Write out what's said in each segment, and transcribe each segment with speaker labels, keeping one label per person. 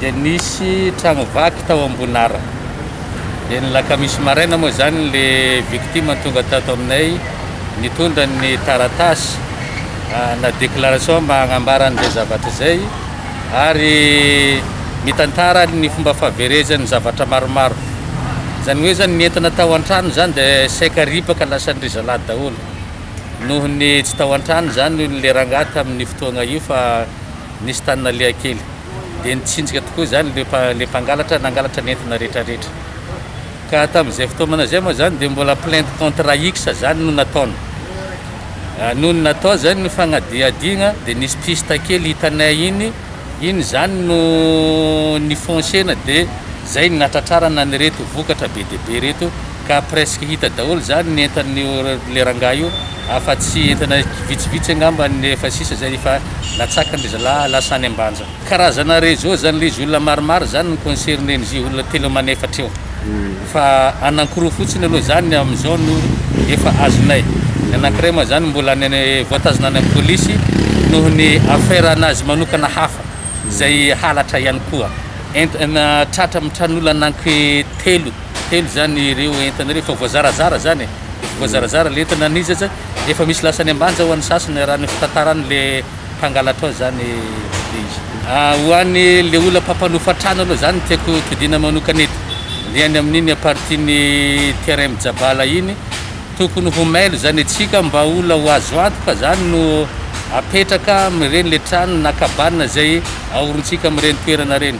Speaker 1: dia nisy tragno vaky tao Ambonara, dia ny lakamisy maraina moa izany le victime tonga tato aminay nitondra ny taratasy na déclaration mba hagnambara an'izay zavatra izay ary mitantara ny fomba fahaverezan'ny zavatra maromaro, izany hoe zany ny entana tao antrano izany dia saika ripaka lasa ndry zalahy daholo, noho ny tsy tao antrano izany le rangahy tamin'ny fotoagna io fa nisy tany naleha kely. dia nitsinjika tokoa izany ilay ilay mpangalatra nangalatra ny entona rehetrarehetra. Ka tamin'izay fotoana izay moa izany dia mbola plainte contre X izany no nataony. Ah, nony natao izany ny fanadihadiagna dia nisy piste kely hitanay iny, iny izany no nifoncena dia izay no nahatratrarana an'ireto vokatra be dia be ireto Ka presque hita daholo zany ny entan'io le rangahy io afa tsy entana vitsivitsy angamba ny efa sisa izay efa natsakany ry zalahy lasa any ambanja. Karazana réseau zany le izy olona maromaro zany no concerner n'izy io olona telo aman efatra eo fa anankiroa fotsiny aloha zany amin'izao no efa azonay ny anankiray moa zany mbola any any voatazona any amin'ny polisy noho ny affaire anazy manokana hafa izay halatra ihany koa entana tratra mitran'olona ananky telo Telo zany ireo entana ireo efa voazarazara zany e, efa voazarazara le entana an'izy aza efa misy lasany ambanja ho an'ny sasany raha ny fitantarany le mpangalatra ao zany le izy. Ah, ho an'ny le olona mpampanofa trano aloha zany no tiako todina manokana eto, le any amin'iny à partie ny terrain mijabala iny, tokony ho mailo zany antsika mba olona ho azo antoka zany no apetraka amin'ireny le trano na cabane zay aorintsika amin'ireny toerana ireny.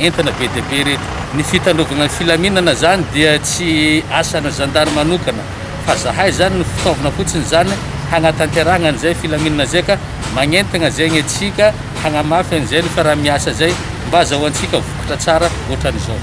Speaker 1: Entana be dia be ireto. Ny fitandrovagna ny filaminana zany dia tsy asana zandary manokana fa zahay zany no fitaovana fotsiny zany hagnatanterahagna an'izay filaminana zay ka magnentagna zegny atsika hagnamafy an'izay ny fiaraha-miasa zay mba azahoantsika vokatra tsara ohatran'izao.